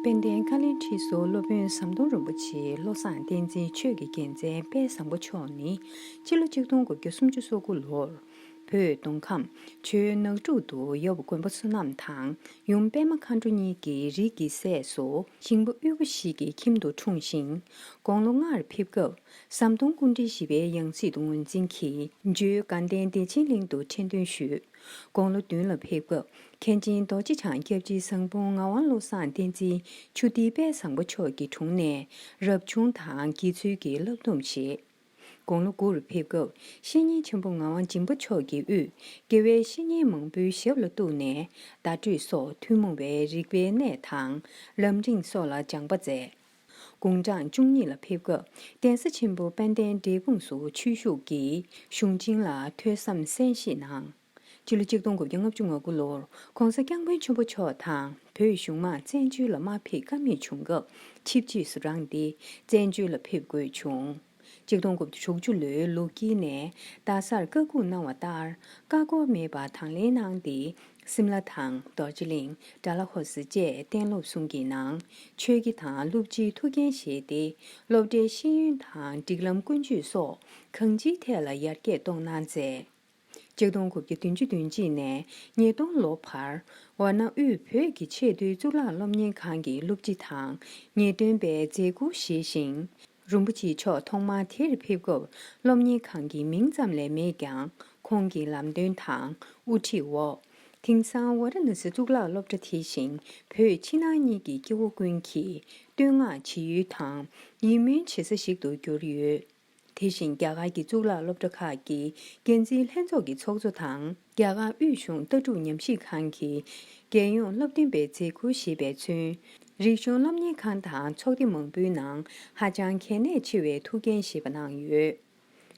དཔལ་ལྡན་ཀ་ལའི་ཁྲི་ཟུར་སློབ་དཔོན་ཟམ་གདོང་རིན་པོ་ཆེ་བློ་བཟང་བསྟན་འཛིན་ཆོས་ཀྱི་རྒྱལ་མཚན་དཔལ་བཟང་པོ་མཆོག་ནི་སྤྱི་ལོ་ཆིག་སྟོང་དགུ་བརྒྱ་སུམ་ཅུ་སོ་དགུ་ལོར། བོད་མདོ་ཁམས་ཆུ་ནགས་འབྲུག་ཏུ་ཡབ་མགོན་པོ་བསོད་ནམས་དང་ཡུམ་པདྨ་མཁའ་འགྲོ་གཉིས་ཀྱི་རིགས་ཀྱི་སྲས་སུ་ཤིང་པོ་དབུལ་པོ་ཞིག་གི་ཁྱིམ་དུ་འཁྲུངས་ཤིང། དགུང་ལོ་ལྔར་ཕེབས་སྐབས་ཟམ་གདོང་ཀུན་དྲིལ་བཞི་པའི་ཡང་སྲིད་དུ་ངོས་འཛིན་གྱིས་འཇུ་དགའ་ལྡན་བདེ་ཆེན་གླིང་དུ་ཁྲི་འདོན་ཞུས། དགུང་ལོ་བདུན་ལ་ཕེབས་སྐབས་མཁན་ཆེན་རྡོ་རྗེ་འཆང་སྐྱབས་རྗེ་བཟང་དཔུང་ངག་དབང་བློ་བཟང་བསྟན་འཛིན་ཆུ་ཐིགས་དཔལ་བཟང་པོ་མཆོག་གི་དྲུང་ནས་རབ་བྱུང་དང་དགེ་ཚུལ་གྱི་བསླབ་སྡོམ་བཞེས། དགུང་ལོ་དགུ་རུ་ཕེབས་སྐབས་བཤེས་གཉེན་ཆེན་པོ་ངག་དབང་སྦྱིན་པ་མཆོག་གི་དབུས་དགེ་བའི་བཤེས་གཉེན་མང་པོའི་ཞབས་ལ་གཏུགས་ནས་བརྡ་སྤྲོད་སོགས་ཐུན་མོང་བའི་རིག་པའི་གནས་དང། ལམ་རིང་སོགས་ལ་སྦྱངས་པ་མཛད། དགུང་གྲངས་བཅུ་གཉིས་ལ་ཕེབས་སྐབས་གདན་ས་ཆེན་པོ་དཔལ་ལྡན་འབྲས་སྤུངས་སུ་ཆོས་ཞུགས་ཀྱིས་གཞུང་ཆེན་ལ་ཐོས་བསམ་གསན་བཞེས་གནང། སྤྱི་ལོ་གཅིག་སྟོང་དགུ་བརྒྱ་ལྔ་བཅུ་ང་དགུ་ལོར ྋགོང་ས ྋསྐྱབས་མགོན་ཆེན་པོ་མཆོག་དང་བོད་གཞུང་མང་བཙན་བྱོལ་ལ་མ་ཕེབས་ཀ་མེད་བྱུང་སྐབས་ཆིབས་རྗེས་སུ་རང་སྡེ་བཙན་བྱོལ་ལ་ཕེབས་དགོས་བྱུང། གཅིག་སྟོང་དགུ་བརྒྱ་དྲུག་ཅུ་ལོའི་ལུགས་དཀྱིལ་ནས་རྡ་སར་བཀའ་བཀུག་གནང་བ་ལྟར་བཀའ་བསྒོ་མེད་པར་དང་ལེན་གནང་སྟེ་སིམ་ལ་དང་རྡོ་རྗེ་གླིང་དགྲ་ལྷ་ཧོར་ཟི་བཅས་གཏན་སློབ་གསུམ་གྱི་ནང་ཆོས་ཀྱི་དང་བསླུ་བྱའི་ཐུགས་འགན་བཞེས་ཏེ་སློབ་གྲྭའི་ཤེས་ཡོན་དང་སྒྲིག་ལམ་ཀུན་སྤྱོད་སོགས་གང་ཅིའི་ཐད་ལ་ཡར་རྒྱས་གཏོང་གནང་མཛད། གཅིག་སྟོང་དགུ་བརྒྱ་བདུན་ཅུ་བདུན་གཅིག་ནས་ཉིས་སྟོང་ལོ་བར། འོ་ན་དབུས་བོད་ཀྱི་ཆེས་མཐོའི་གཙུག་ལག་སློབ་གཉེར་ཁང་གི་སློབ་སྤྱི་དང་ངེས་སྟོན་པའི་མཛད་སྒོ་བཞེས་ཤིང། རིན་པོ་ཆེ་མཆོག་ཐོག་མར་དེར་ཕེབས་སྐབས་སློབ་གཉེར་ཁང་གི་མིང་ཙམ་ལས་མེད་ཀྱང་ཁོང་གི་ལམ་སྟོན་དང་དབུ་ཁྲིད་འོག་དེང་སང་ཝཱ་ར་ན་སི་གཙུག་ལག་སློབ་གྲྭ་དེ་བཞིན་བོད་ཕྱི་ནང་གཉིས་ཀྱི་སྐྱེ་བོ་ཀུན་གྱིས་བསྟོད་བསྔགས་བྱེད་ཡུལ་དང་ཡིད་སྨོན་བྱེད་ས་ཞིག་ཏུ་གྱུར་ཡོད། དེ་བཞིན་རྒྱ་གར་གྱི་གཙུག་ལག་སློབ་གྲྭ་ཁག་གི་འགན་འཛིན་ལྷན་ཚོགས་ཀྱི་ཚོགས་གཙོ་དང་རྒྱ་གར་དབུས་གཞུང་ལྟ་གྲུབ་ཉམས་ཞིབ་ཁང་གི་རྒྱལ་ཡོངས་སློབ་སྟོན་པའི་མཛད་ཁུར་བཞེས་པས་མཚོན། རིག་གཞུང་སློབ་གཉེར་ཁང་དང་ཚོགས་སྡེ་མང་པོའི་ནང་ཧ་ཅང་གལ་གནད་ཆེ་བའི་ཐུགས་འགན་བཞེས་པ་གནང་ཡོད།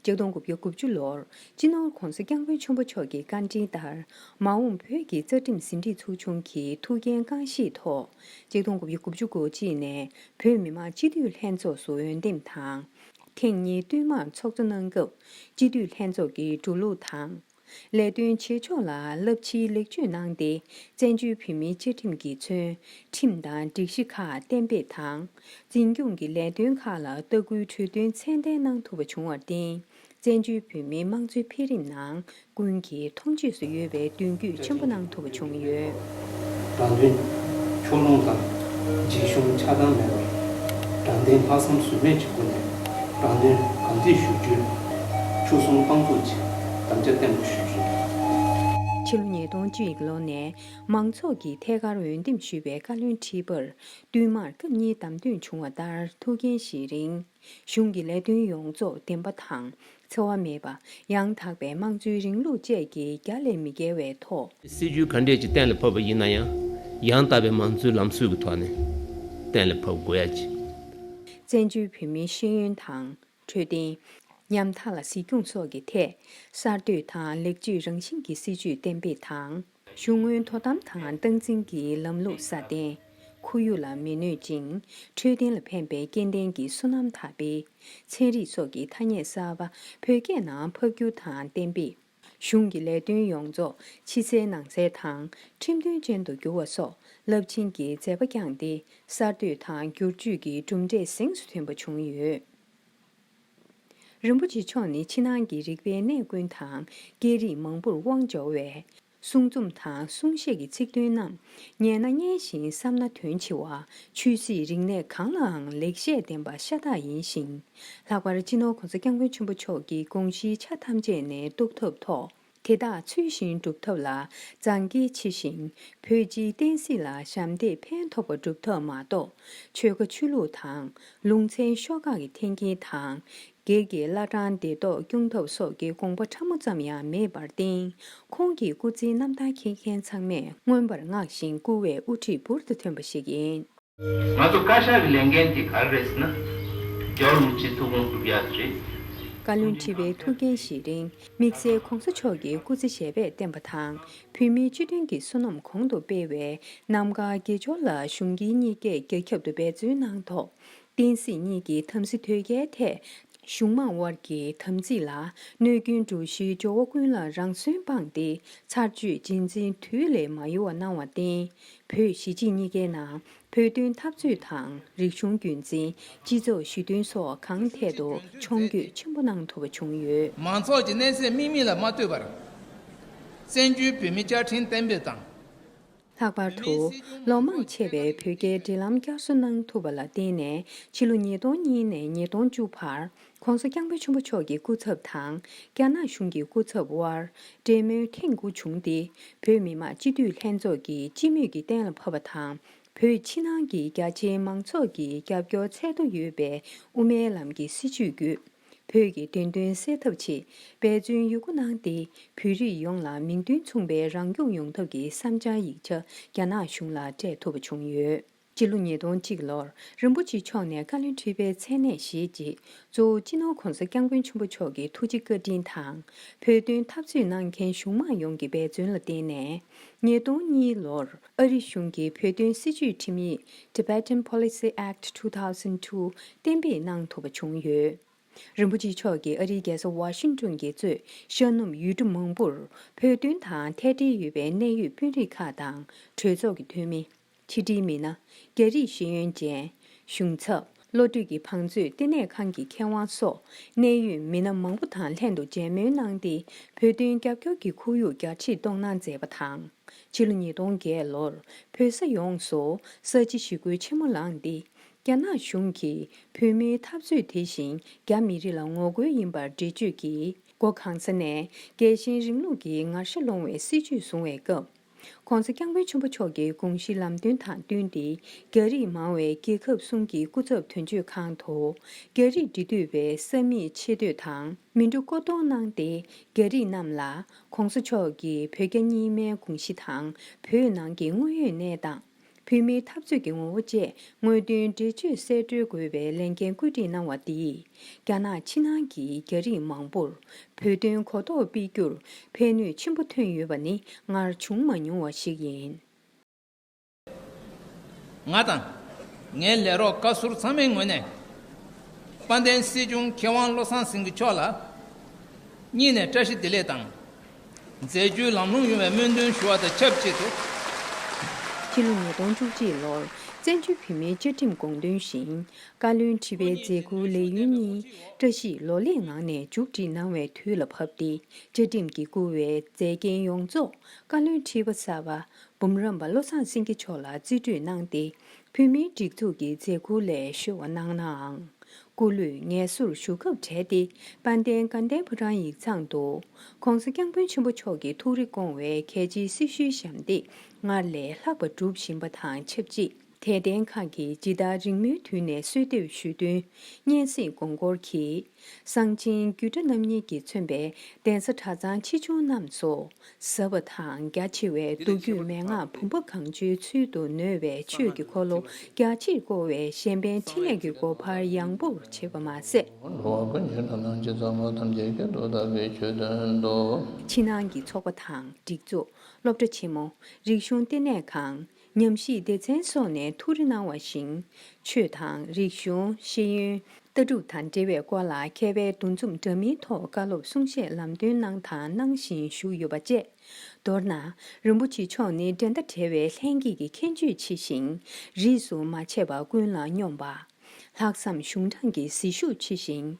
སྤྱི་སྟོང་དགུ་བརྒྱ་དགུ་བཅུ་ལོར་སྤྱི་ནོར ྋགོང་ས ྋསྐྱབས་མགོན་ཆེན་པོ་མཆོག་གི་བཀའ་དྲིན་ལྟར་མ་འོངས་བོད་ཀྱི་རྩ་ཁྲིམས་ཟིན་བྲིས་ཚོགས་ཆུང་གི་ཐུགས་འགན་རྐང་བཞེས་ཐོག་སྤྱི་སྟོང་དགུ་བརྒྱ་དགུ་བཅུ་སྒོ་གཅིག་ནས་བོད་མི་མང་སྤྱི་འཐུས་ལྷན་ཚོགས་སུ་འོས་འདེམས་དང། ཐེངས་གཉིས་བསྟུད་མར་ཚོགས་གཙོ་གནང་སྐབས་སྤྱི་འཐུས་ལྷན་ཚོགས་ཀྱི་འགྲོ་ལུགས་དང། ལས་དོན་བྱེད་ཕྱོགས་ལ་རླབས་ཆེའི་ལེགས་བཅོས་གནང་སྟེ་བཙན་བྱོལ་བོད་མིའི་བཅའ་ཁྲིམས་ཀྱི་ཚུལ་ཁྲིམས་དང་སྒྲིག་གཞི་ཁག་གཏན་འབེབས་དང། འཛིན་སྐྱོང་གི་ལས་དོན་ཁག་ལ་ལྟ་སྐུལ་གྲོས་མཐུན་ཚད་ལྡན་གནང་ཐུབ་པ་བྱུང་བར་བརྟེན། བཙན་བྱོལ་བོད་མིའི་དམངས་གཙོའི་འཕེལ་རིམ་ནང་ཀུན་གྱིས་མཐོང་ཆོས་སུ་ཡོད་པའི་མདུན་སྐྱོད་ཆེན་པོ་གནང་ཐུབ་པ་བྱུང་ཡོད། དྲང་དོན། ཕྱོགས་ལྷུང་དང། འཇིགས་ཞུམ་ཆགས་སྡང་མེད་པར། དྲང་བདེན་ལྷག་བསམ་ཟོལ་མེད་ཀྱི་སྒོ་ནས་དྲང་དོན་གང་མཛད་ཞུ་རྒྱུའི་ཆོལ་གསུམ་དཔང་བཙུགས་ཀྱི་དམ་བཅའ་བརྟན་པོ་ཞུས་ཡོད། ཕྱི་ལོ་ཉིས་སྟོང་བཅུ་ཡི་ལོ་ནས་མང་ཚོགས་ཀྱིས་ཐད་ཀར་འོས་འདེམས་ཞུས་པའི་བཀའ་བློན་ཁྲི་པར་བསྟུན་མར་སྐབས་གཉིས་བདམས་ཐོན་བྱུང་བ་ལྟར་ཐུགས་འགན་བཞེས་རིང། གཞུང་གི་ལས་དོན་ཡོངས་རྫོགས་བདེན་པ་དང་འཚེ་བ་མེད་པ། ཡང་དག་པའི་དམངས་གཙོའི་རིང་ལུགས་བཅས་ཀྱི་རྒྱ་ལས་མི་བརྒལ་བའི་ཐོག། སྲིད་ཇུས་ག་འདྲས་ཀྱིས་གཏན་ལ་ཕབ་པ་ཡིན་ན་ཡང། ཡང་དག་པའི་དམངས་གཙོའི་ལམ་སྲོལ་གྱི་ཐོག་ནས་གཏན་ལ་ཕབ་དགོས་ཡ་ཅི། བཙན་བྱོལ་བོད་མིའི་ཤེས་ཡོན་དང། འཕྲོད་བསྟེན། ཉམ་ཐག་ལ་གཟིགས་སྐྱོང་སོགས་ཀྱི་ཐད། གསར་གཏོད་དང་ལེགས་བཅོས་རང་བཞིན་གྱི་སྲིད་ཇུས་གཏན་འབེབས་དང། གཞུང་དངུལ་དོ་དམ་དང་སྟངས་འཛིན་གྱི་ལམ་ལུགས་སྲ་བརྟན། ཁོར་ཡུག་ལ་མི་གནོད་ཅིང་འཕྲོད་བསྟེན་ལ་ཕན་པའི་སྐྱེ་ལྡན་གྱི་སོ་ནམ་དར་སྤེལ། ཚན་རིག་སོགས་ཀྱི་ཐ་སྙད་གསར་པ་བོད་སྐད་ནང་ཕབ་སྒྱུར་དང་གཏན་འབེབས། གཞུང་གི་ལས་དོན་ཡོངས་རྫོགས་ཕྱི་གསལ་ནང་གསལ་དང་ཁྲིམས་མཐུན་ཅན་དུ་བསྒྱུར་བ་སོགས་རླབས་ཆེན་གྱི་མཛད་པ་བསྐྱངས་ཏེ་གསར་གཏོད་དང་སྒྱུར་བཅོས་ཀྱི་གྲུབ་འབྲས་གཟེངས་སུ་ཐོན་པ་བྱུང་ཡོད། རིན་པོ་ཆེ་མཆོག་ནི་ཕྱི་ནང་གི་རིག་པའི་གནས་ཀུན་དང་སྐད་རིགས་མང་པོར་དབང་འབྱོར་བས། གསུང་རྩོམ་དང་གསུང་བཤད་ཀྱི་ཚིག་དོན་རྣམས་ཉན་ན་སྙན་ཞིང་བསམ་ན་དོན་ཆེ་བ། ཆོས་སྲིད་རིག་གནས་གང་ལའང་ལེགས་བཤད་ལྡན་པ་ཤ་སྟག་ཡིན་ཞིང། ལྷག་པར་སྤྱི་ནོར་གོང་ས་སྐྱབས་མགོན་ཆེན་པོ་མཆོག་གི་དགོངས་གཞིའི་ཆ་ཐམས་ཅད་ནས་རྟོགས་ཐུབ་ཐོག། དེ་དག་ཚུལ་བཞིན་སྒྲུབ་ཐབས་ལ་རྫངས་རྒྱས་ཆེ་ཞིང་བོད་སྤྱིའི་བསྟན་སྲིད་ལ་ཞབས་འདེགས་ཕན་ཐོགས་པ་སྒྲུབ་ཐབས་མ་གཏོགས་ཆོལ་ཁ་ཆོས་ལུགས་དང་ལུང་ཚན་ཤོག་ཁག་གི་འཐེན་འཁྱེར་དང། སྒེར་གྱི་བླ་བྲང་བདེ་ཐོག་སྐྱོང་ཐབས་སོགས་ཀྱི་དགོངས་པ་ཕྲ་མོ་ཙམ་ཡང་མེད་པར་བརྟེན་ཁོང་གི་སྐུ་ཚེའི་རྣམ་ཐར་མཁྱེན་མཁན་ཚང་མས་མངོན་པར་བསྔགས་ཤིང་བཀུར་བའི་དབུ་ཁྲིད་འབུར་དུ་ཐོན་པ་ཞིག་ཡིན། ང་ཚོ་བཀའ་ཤག་གི་ལས་འགན་དེ་ག་རེ་རེད་ཟེར་ན། རྒྱ་བོད་མི་སྤྱིའི་ཐུགས་དགོངས་སྒྲུབ་ཡག་དེ་རེད། བཀའ་བློན་ཁྲི་པའི་ཐུགས་འགན་བཞེས་རིང་དམིགས་བསལ ྋགོང་ས་མཆོག་གིས་སྐུ་ཚེ་ཞལ་པད་བསྟན་པ་དང་བོད་མིའི་སྤྱི་དོན་གྱི་བསོད་ནམས་གོང་དུ་སྤེལ་བའི་རྣམ་དཀར་དགེ་སྦྱོར་ལ་གཞུང་དཀྱིལ་གཉིས་ཀས་རྒྱ་ཁྱབ་ཏུ་འབད་བརྩོན་གནང་ཐོག་བསྟན་སྲིད་གཉིས་ཀྱི་དམ་སྲི་དོལ་རྒྱལ་ཐད་གཞུང་མང་དབར་གྱི་དམ་ཚིག་ལ་གནོད་སྐྱོན་འགྲོ་གཞིའི་ཇོ་བོ་ཀུན་ལ་རང་གསོན་སྤངས་ཏེ་ཚར་གཅོད་རྗེས་འཛིན་དུས་ལས་མ་ཡོལ་བ་གནང་བར་བརྟེན། བོད་གཞིས་སྤྱི་གཉིས་ཀའི་ནང་བོད་དོན་འཐབ་རྩོད་དང་རིག་གཞུང་རྒྱུན་འཛིན་སྤྱི་ཚོགས་ཞི་མཐུན་སོགས་གང་ཐད་དུ་མཆོང་སྐྱོད་ཆེན་པོ་གནང་ཐུབ་པ་བྱུང་ཡོད། མང་ཚོགས་ཀྱི་གནས་ཚད་དམིགས་མིན་ལ་མ་ལྟོས་པར། བཙན་བྱོལ་བོད་མི་བཅའ་ཁྲིམས་གཏན་འབེབས་དང། ལྷག་པར་དུ། ལོ་མང་ཆེ་བའི་བོད་རྒྱའི་འབྲེལ་ལམ་བསྐྱར་གསོ་གནང་ཐུབ་པ་ལ་བརྟེན་ནས་ཕྱི་ལོ་ཉིས་སྟོང་གཉིས་ནས་ཉིས་སྟོང་བཅུ་བར ྋགོང་ས ྋསྐྱབས་མགོན་ཆེན་པོ་མཆོག་གི་སྐུ་ཚབ་དང་རྒྱ་ནག་གཞུང་གི་སྐུ་ཚབ་དབར་འབྲེལ་མོལ་ཐེངས་དགུ་བྱུང་སྟེ་བོད་མི་མང་སྤྱི་འཐུས་ལྷན་ཚོགས་ཀྱི་སྤྱི་མོས་ཀྱིས་གཏན་ལ་ཕབ་པ་དང་བོད་ཕྱི་ནང་གི་རྒྱ་ཆེའི་མང་ཚོགས་ཀྱིས་རྒྱབ་སྐྱོར་ཚད་མཐོ་ཡོད་པའི་དབུ་མའི་ལམ་གྱི་སྲིད་བྱུས་བརྒྱུད། བོད་ཀྱི་བདེན་དོན་གསལ་ཐབས་ཆེད་འབད་བརྩོན་ཡོད་རྒུ་གནང་སྟེ་བོད་རིགས་ཡོངས་ལ་མིང་དོན་མཚུངས་པའི་རང་སྐྱོང་ཡོང་ཐབས་ཀྱི་བསམ་འཆར་ཡིག་ཆ་རྒྱ་ནག་གཞུང་ལ་སྤྲད་ཐུབ་པ་བྱུང་ཡོད། སྤྱི་ལོ་ཉིས་སྟོང་གཅིག་ལོར་རིན་པོ་ཆེ་མཆོག་ནས་བཀའ་བློན་ཁྲི་པའི་མཚན་གནས་བཞེས་རྗེས་གཙོ་བོ་སྤྱི་ནོར་གོང་ས་སྐྱབས་མགོན་ཆེན་པོ་མཆོག་གི་ཐུགས་རྗེ་བཀའ་དྲིན་དང་བོད་དོན་འཐབ་རྩོད་གནང་མཁན་གཞུང་མང་ཡོངས་ཀྱི་འབད་བརྩོན་ལ་བརྟེན་ནས། ཉིས་སྟོང་གཉིས་ལོར་ཨ་རི་གཞུང་གིས་བོད་དོན་སྲིད་བྱུས་ཁྲིམས་ཡིག Tibetan Policy Act Two Thousand Two གཏན་འབེབས་གནང་ཐུབ་པ་བྱུང་ཡོད། རིན་པོ་ཆེ་མཆོག་གིས་ཨ་རིའི་རྒྱལ་ས Washington གྱི་གཙོས་ཤར་ནུབ་ཡུལ་གྲུ་མང་པོར་བོད་དོན་དང་ཐད་འབྲེལ་ཡོད་པའི་གནད་ཡོད་དཔོན་རིགས་ཁག་དང་གྲོས་ཚོགས་ཀྱི་འཐུས་མི། ཕྱི་དྲིལ་མི་སྣ། རྒྱ་རིགས་ཤེས་ཡོན་ཅན། གཞུང་ཚབ། བློ་གྲོས་ཀྱི་བང་མཛོད་ལྟེ་གནས་ཁང་གི་མཁས་དབང་སོགས་གནད་ཡོད་མི་སྣ་མང་པོ་དང་ལྷན་དུ་མཇལ་མོལ་གནང་སྟེ་བོད་དོན་རྒྱབ་སྐྱོར་གྱི་ཁོར་ཡུག་བསྐྱར་ཁྲིད་གཏོང་གནང་མཛད་པ་དང། ཕྱི་ལོ་ཉིས་སྟོང་བརྒྱད་ལོར་བོད་ས་ཡོངས་སུ་ས་བྱི་ཞི་རྒོལ་ཆེན་མོ་ལངས་ཏེ། རྒྱ་ནག་གཞུང་གིས་བོད་མིའི་འཐབ་རྩོད་དེ་བཞིན་རྒྱ་མི་རིགས་ལ་ངོ་རྒོལ་ཡིན་པར་འགྲེལ་བརྗོད་ཀྱིས་སྒོ་གང་ས་ནས་རྒྱལ་ཞེན་རིང་ལུགས་ཀྱི་ངར་ཤ་སློང་བའི་སྲིད་ཇུས་བཟུང་བའི་སྐབས། ྋགོང་ས ྋསྐྱབས་མགོན་ཆེན་པོ་མཆོག་གི་དགོངས་གཞི་ལམ་སྟོན་དང་བསྟུན་ཏེ་རྒྱ་རིགས་མང་བའི་རྒྱལ་ཁབ་གསུམ་གྱི་སྐུ་ཚབ་དོན་གཅོད་ཁང་དུ། རྒྱ་རིགས་འབྲེལ་མཐུད་པའི་ས་མིག་ཆེ་བསྟོད་དང་མི་འགྲོ་བསྐོ་གཏོང་གནང་སྟེ་རྒྱ་རིགས་རྣམས་ལ ྋགོང་ས་མཆོག་གིས་བོད་རྒྱ་གཉིས་སྨན་དགོངས་གཞི་དང་བོད་ནང་གི་དངོས་ཡོད་གནས་སྟངས། བོད་མིའི་འཐབ་རྩོད་ཀྱི་ངོ་བོ་བཅས་དངོས་དོན་འགྲེལ་བརྗོད་གསལ་བཀྲོལ་དགོས་པའི་ལས་འགན་བཀོད་སྒྲིག་གནང་བ་འདིས། རྒྱ་ནག་ཕྱི་ནང་གི་རྒྱ་རིགས་མང་པོར་བོད་དོན་གོ་རྟོགས་སྤེལ་རྒྱུར་ཕན་ནུས་ཆེན་པོ་ཐོན་ཡོད་པ་ནི་སྔར་བྱུང་མ་མྱོང་བ་ཞིག་ཡིན། ང་དང་ངའི་ལས་རོགས་བཀའ་ཟུར་ཚང་མའི་ངོས་ནས། དཔལ་ལྡན་སྲིད་སྐྱོང་མཁས་དབང་བློ་བཟང་སེང་གེ་མཆོག་ལ། སྙིང་ནས་བཀྲ་ཤིས་བདེ་ལེགས་དང། མཛད་རྒྱུའི་ལམ་ལྷོངས་ཡོང་བའི་སྨོན་འདུན་ཞུ་བ་དང་ཆབས་ཅིག་ཏུ། སྤྱི་ལོ་ཉིས་སྟོང་བཅུ་གཅིག་ལོར་བཙན་བྱོལ་བོད་མིའི་བཅའ་ཁྲིམས་དགོངས་དོན་བཞིན། བཀའ་བློན་ཁྲི་པའི་མཛད་ཁུར་ལས་ཡུན་གཉིས་བཀྲ་ཤིས་ལོ་ལེགས་ངང་ནས་མཇུག་སྒྲིལ་གནང་བའི་དུས་ལ་བབ་སྟེ་བཅའ་ཁྲིམས་ཀྱིས་བསྐུར་བའི་མཛད་འགན་ཡོངས་རྫོགས་བཀའ་བློན་ཁྲི་པ་གསར་པ་འབུམ་རམས་པ་བློ་བཟང་སེང་གེ་མཆོག་ལ་རྩིས་སྤྲོད་གནང་སྟེ་བོད་མིའི་སྒྲིག་འཛུགས་ཀྱི་མཛད་ཁུར་ལས་བཤོལ་བ་གནང་ནའང། སྐུ་ལུས་ངལ་གསོར་བཞུགས་སྐབས་གྲལ་སྟེ་དཔལ་ལྡན་དགའ་ལྡན་ཕོ་བྲང་ཡིག་ཚང་དུ། ྋགོང་ས ྋསྐྱབས་མགོན་ཆེན་པོ་མཆོག་གི་ཐུགས་རེ་སྐོང་བའི་གལ་ཆེའི་སྲི་ཞུའི་ཞབས་འདེགས་སྔར་ལས་ལྷག་པ་སྒྲུབ་བཞིན་པ་དང་ཆབས་ཅིག་དད་ལྡན་ཁག་གིས་ཇི་ལྟར་རིང་མོའི་དུས་ནས་གསོལ་འདེབས་ཞུས་བསྟུན་སྙན་གསེང་དགོངས་སྐོར་གྱིས། གསང་ཆེན་རྒྱུད་གྲྭ་རྣམ་གཉིས་ཀྱིས་མཚོན་པའི་གདན་ས་གྲྭ་ཚང་ཆེ་ཆུང་རྣམས་སུ། ཟབ་པ་དང་རྒྱ་ཆེ་བའི་མདོ་རྒྱུད་མན་ངག་བུམ་པ་གང་བྱོའི་ཚུལ་དུ་ནོས་པའི་ཆོས་ཀྱི་འཁོར་ལོ་རྒྱ་ཆེར་བསྐོར་བའི་གཞན་ཕན་འཕྲིན་ལས་ཀྱི་སྒོ་འཕར་ཡངས་པོར་བྱེད་པ་མ་ཟད། འགྲོ་བ་ཀུན་གྱི་ལྷ་སྣང་སྤྱི་གཙང་མ་ཐམས་ཅད་ཀྱི་སྒྲོ་བཏགས་པའི་ཆོས་སྟོན་ཏོ། ཕྱི་ནང་གི་ཚོགས་པ་དང་སྒྲིག་འཛུགས་སློབ་གྲྭ་ཆེན་མོ་རིག་གཞུང་ལྟེ་གནས་ཁང། ཉམས་ཞིབ་སྡེ་ཚན་སོགས་ནས་ཐུགས་རེ་གནང་བ་བཞིན། ཆོས་དང། རིག་གཞུང། ཤེས་ཡོན། ལྟ་གྲུབ་དང་འབྲེལ་བའི་སྐོར་ལ་མཁས་པའི་འདུ་འཛོམས་འདྲ་མིན་ཐོག་བཀའ་སློབ་གསུང་བཤད་ལམ་སྟོན་གནང་དང་གནང་བཞིན་བཞུགས་ཡོད་པ་བཅས། མདོར་ན། རིན་པོ་ཆེ་མཆོག་ནི་འགྲན་ཟླ་བྲལ་བའི་ལྷན་སྐྱེས་ཀྱི་མཁྱེན་དཔྱོད་ཆེ་ཞིང། རིས་སུ་མ་ཆད་པ་ཀུན་ལ་སྙོམས་པ། ལྷག་བསམ་གཞུང་དྲང་གི་ཟིལ་ཤུགས་ཆེ་ཞིང།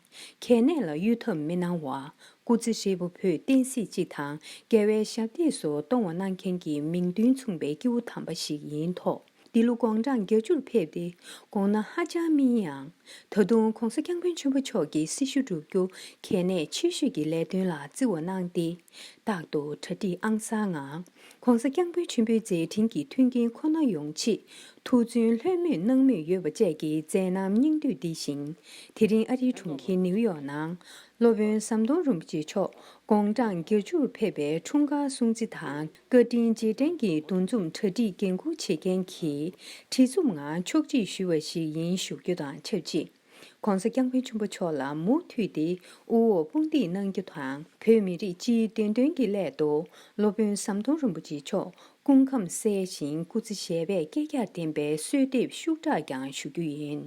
གལ་གནད་ལ་གཡུལ་འཐབ་མི་གནང་བ། སྐུ་ཚེ་ཧྲིལ་པོ་བོད་བསྟན་སྲིད་སྤྱི་དང་འགལ་བའི་ཞབས་སྟེགས་སུ་གཏོང་བ་གནང་མཁན་གྱི་མིང་མདུན་མཚུངས་པའི་སྐྱེ་བོ་དམ་པ་ཞིག་ཡིན་ཐོག་འདི་ལོ་དགོངས་གྲངས་བརྒྱ་ཅུར་ཕེབས་ཏེ་དགོངས་ན་ཧ་ཅང་སྨིན་ཡང། ད་དུང ྋགོང་ས ྋསྐྱབས་མགོན་ཆེན་པོ་མཆོག་གི་སྲི་ཞུ་བསྒྲུབ་རྒྱུ་གལ་གནད་ཆེ་ཤོས་ཀྱི་ལས་དོན་ལ་བརྩི་བ་གནང་སྟེ་རྟག་ཏུ་གྲ་སྒྲིག་ཨང་གསར་ངང། ྋགོང་ས ྋསྐྱབས་མགོན་ཆེན་པོའི་མཛད་འཕྲིན་གྱི་མཐུན་རྐྱེན་ཁོ་ན་ཡོང་ཆེད། ཐུགས་བརྩོན་ལྷོད་མོས་གནང་མུས་ཡོད་པ་བཅས་ཀྱི་མཛད་རྣམ་སྙིང་བསྡུས་འདི་བཞིན། དེ་རིང་ཨ་རིའི་གྲོང་ཁྱེར་ནེའུ་ཡོག་ནང། སློབ་དཔོན་ཟམ་གདོང་རིན་པོ་ཆེ་མཆོག་དགུང་གྲངས་བརྒྱད་བཅུ་རུ་ཕེབས་པའི་འཁྲུངས་སྐར་སྲུང་བརྩི་དང་བཀའ་དྲིན་རྗེས་དྲན་གྱི་འདུ་འཛོམས་གྲ་སྒྲིག་འགན་འཁུར་བྱེད་མཁན་གྱི་ཁྲི་འཛོམས་ངང་ཕྱོགས་སྒྲིག་ཞུས་བ་ཞིག་ཡིན་ཞུ་རྒྱུ་དང་ཆབས་ཅིག། ྋགོང་ས ྋསྐྱབས་མགོན་ཆེན་པོ་མཆོག་ལ་མུ་མཐུད་དེ་དབུ་འོག་དཔུང་འདེགས་གནང་རྒྱུ་དང་བོད་མི་རིགས་སྤྱིའི་བདེན་དོན་གྱི་སླད་དུ་སློབ་དཔོན་ཟམ་གདོང་རིན་པོ་ཆེ་མཆོག་སྐུ་ཁམས་གསལ་ཞིང་སྐུ་ཚེ་ཞལ་པད་བསྐལ་བརྒྱར་བརྟན་པའི་གསོལ་འདེབས་ཤུགས་དྲག་ཀྱང་ཞུ་རྒྱུ་ཡིན།